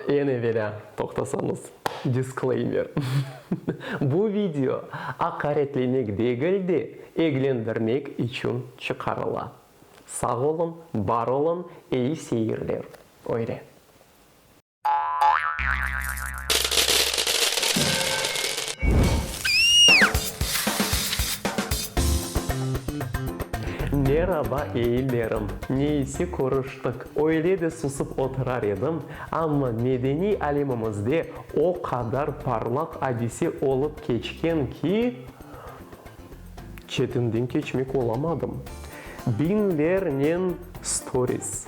Eñ evelâ toqtasañız, disclaimer, bu video aqaretlemek degil de, eglendirmek içün çıqarıla. Sağ oluñ, bar oluñ, eyi seyirler. Öyle. Meraba eillerim! Neyse körüştik. Öyle de susıp oturar edim, amma medeniy alemimizde o qadar parlaq adise olıp keçken ki, Çetinden keçmek olamadım. Biñlernen storis,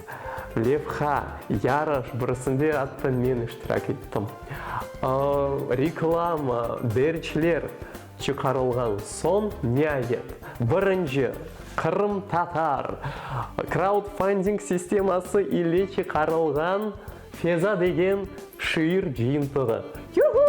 levha, yarış, birisinde atta men iştirak ettim. Reklama, derçler çıqarılğan soñ, niayet, birinci qırımtatar kraudfanding sisteması ile çıqarılğan Feza degen şiir cıyıntığı. Yuhuu!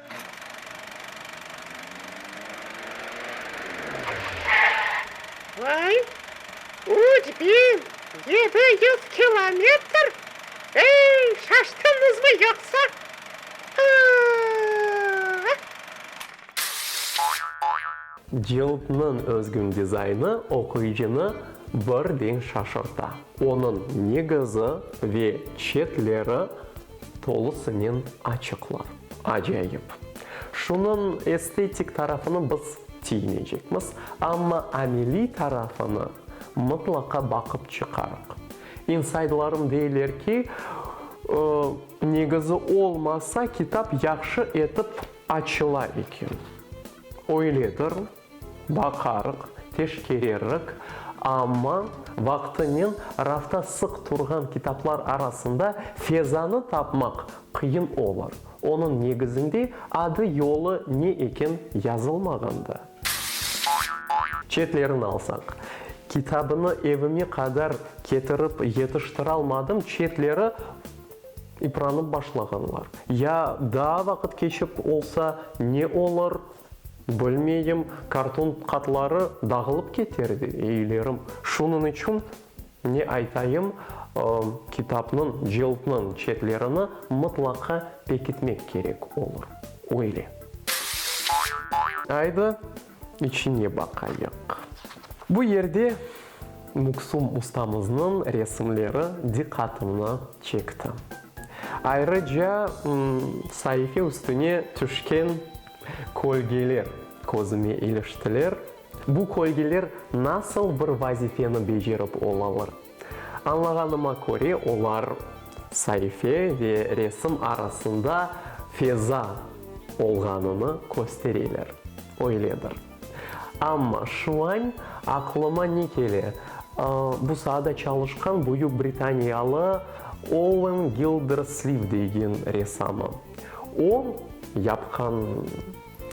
Vay, üç biñ yedi yüz kilometr? Ey, şaştıñızmı yoqsa? Aa! Cildniñ özgün dizaynı oquyıcını birden şaşırta. Onıñ negizi ve çetleri. Tolusınen açıqlar. Acayip! Şunıñ estetik tarafını biz tiymeycekmiz, amma ameliy tarafını mıtlaqa baqıp çıqarıq. İnsaydlarım deyler ki, negizi olmasa, kitap yahşı etip açıla eken. Öyledir. Baqarıq, teşkererrik, amma vaqtınen rafta sıq turğan kitaplar arasında Fezanı tapmaq qıyın olur, onıñ negizinde adı-yolı ne eken yazılmağandı. Çetlerini alsaq, kitabını evime qadar ketirip yetiştiralmadım, çetleri ipranıp başlağanlar, ya daa vaqıt keçip olsa ne olur, Bilmeyim, karton qatları dağılıp keter de, eylerim. Şunıñ içün, ne aytayım, kitapnıñ, cildniñ çetlerini mıtlaqa pekitmek kerek olur. Öyle. Aydı, içine baqayıq. Bu yerde Muksum ustamıznıñ resimleri diqqatımnı çekti. Ayrıca, saife üstüne tüşken Kölgeler közüme iliştiler. Bu kölgeler nasıl bir vazifeni becerip olalar? Añlağanıma köre, olar saife ve resim arasında feza olğanını köstereler. Öyledir. Amma şuañ aqlıma ne kele, bu saada çalışqan Büyük Britaniyalı Owen Gildersliv degen resamı. O, yapqan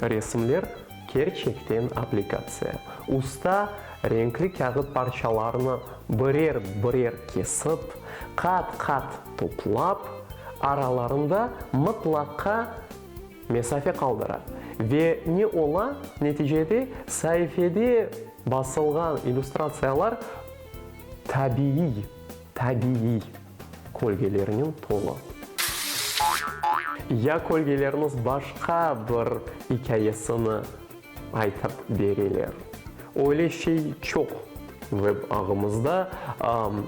resimler kerçekten aplikatsiya. Usta renkli kâğıt parçalarını birer-birer kesip, qat-qat toplap, aralarında mıtlaqa mesafe qaldıra. Ve ne ola, neticede saifede basılğan illüstratsiyalar tabiiy, tabiiy. kölgelernen tolu. Ya kölgelerniz başqa bir ikâyesini aytıp bereler. Öyle şey çoq veb ağımızda,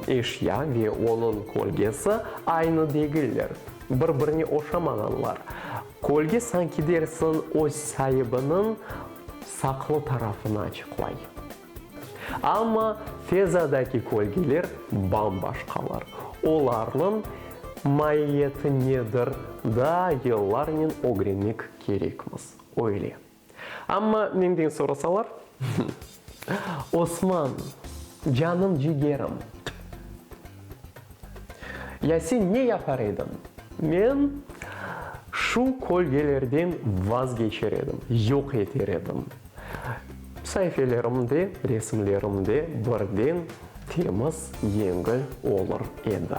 eşya ve onıñ kölgesi aynı degiller, bir-birine oşamağanlar. Kölge sanki dersiñ öz saibiniñ saqlı tarafını açıqlay. Amma fezadaki kölgeler bam-başqalar. Olarnıñ maiyeti nedir, daa yıllarnen ögrenmek kerekmiz, öyle. Amma menden sorasalar, Osman, canım-cigerim! Ya sen ne yapar ediñ? Men şu kölgelerden vazgeçer edim, yoq eter edim. Saifelerimde, resimlerimde birden temiz, yengil olur edi.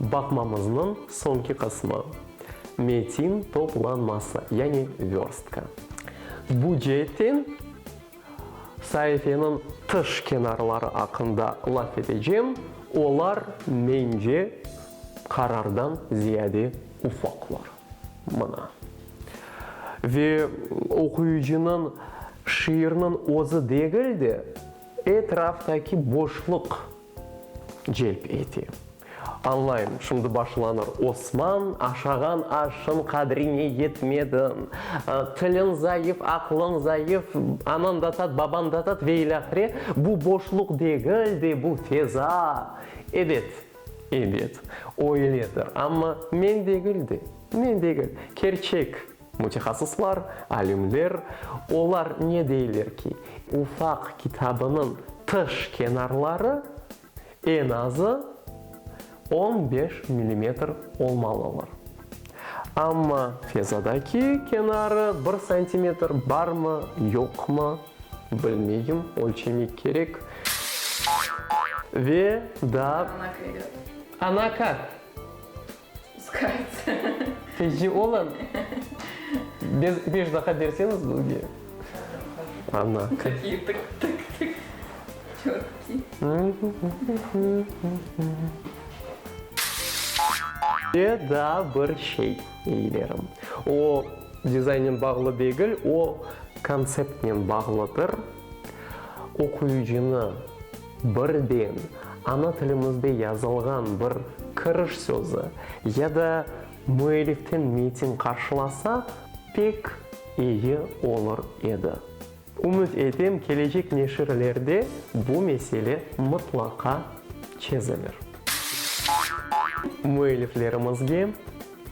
Baqmamıznıñ soñki qısmı, metin toplanması, yani vörstka. Bu ceetten saifeniñ tış kenarları aqqında laf etecem, olar, mence, qarardan ziyade ufaqlar. Mına. Ve oquyıcınıñ şiirniñ özü degil de, etraftaki boşluq. celp ete. Añlayım, şimdi başlanır, Osman, aşağan aşın qadrine yetmediñ, tiliñ zayıf, aqlıñ zayıf, anañ da tat, babañ da tat ve ilâhre, bu boşluq degil de, bu feza. Ebet, ebet, oyledir, amma men degil de, men degil, kerçek. Mütehassıslar, alümler, olar ne deyler ki, ufaq kitabınıñ tış kenarları eñ azı on beş millimetr olmalılar. Amma fezadaki kenarı bir santimetr barmı, yoqmı, bilmeyim, ölçemek kerek. Ve daa. Ana kök. Ana kök. Peki olam. Beş daha berseñiz bizge. Ana. Takiy tık tık tık. Çötkiy. Ve daa bir şey, eyilerim. O dizaynen bağlı degil, o kontseptnen bağlıdır. Oquyıcını. Birden ana tilimizde yazılğan bir kiriş sözü ya da müelliften metin qarşılasak, pek iyi olur edi. Ümüt etem, kelecek neşirlerde bu mesele mıtlaqa çezilir. Müelliflerimizge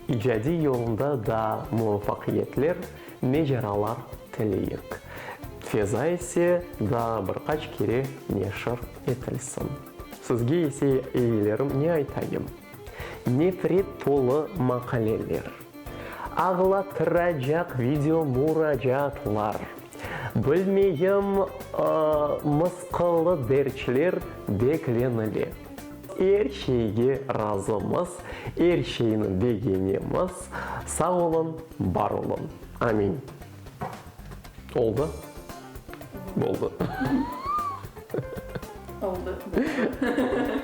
İcadiy yolunda daa muvafaqiyetler, mecaralar tileyik. Feza ise daa bir qaç kere neşir etilsin. Sizge ise, eyilerim, ne aytayım? Nefret tolu maqaleler, ağlatıracaq video muracaatlar, bilmeyim, mısqıllı derçler beklenile. Er şeyge razımız, er şeyni begenemiz, sağ olun, bar olun. Amin. Oldı? Boldı. Oldı, boldı.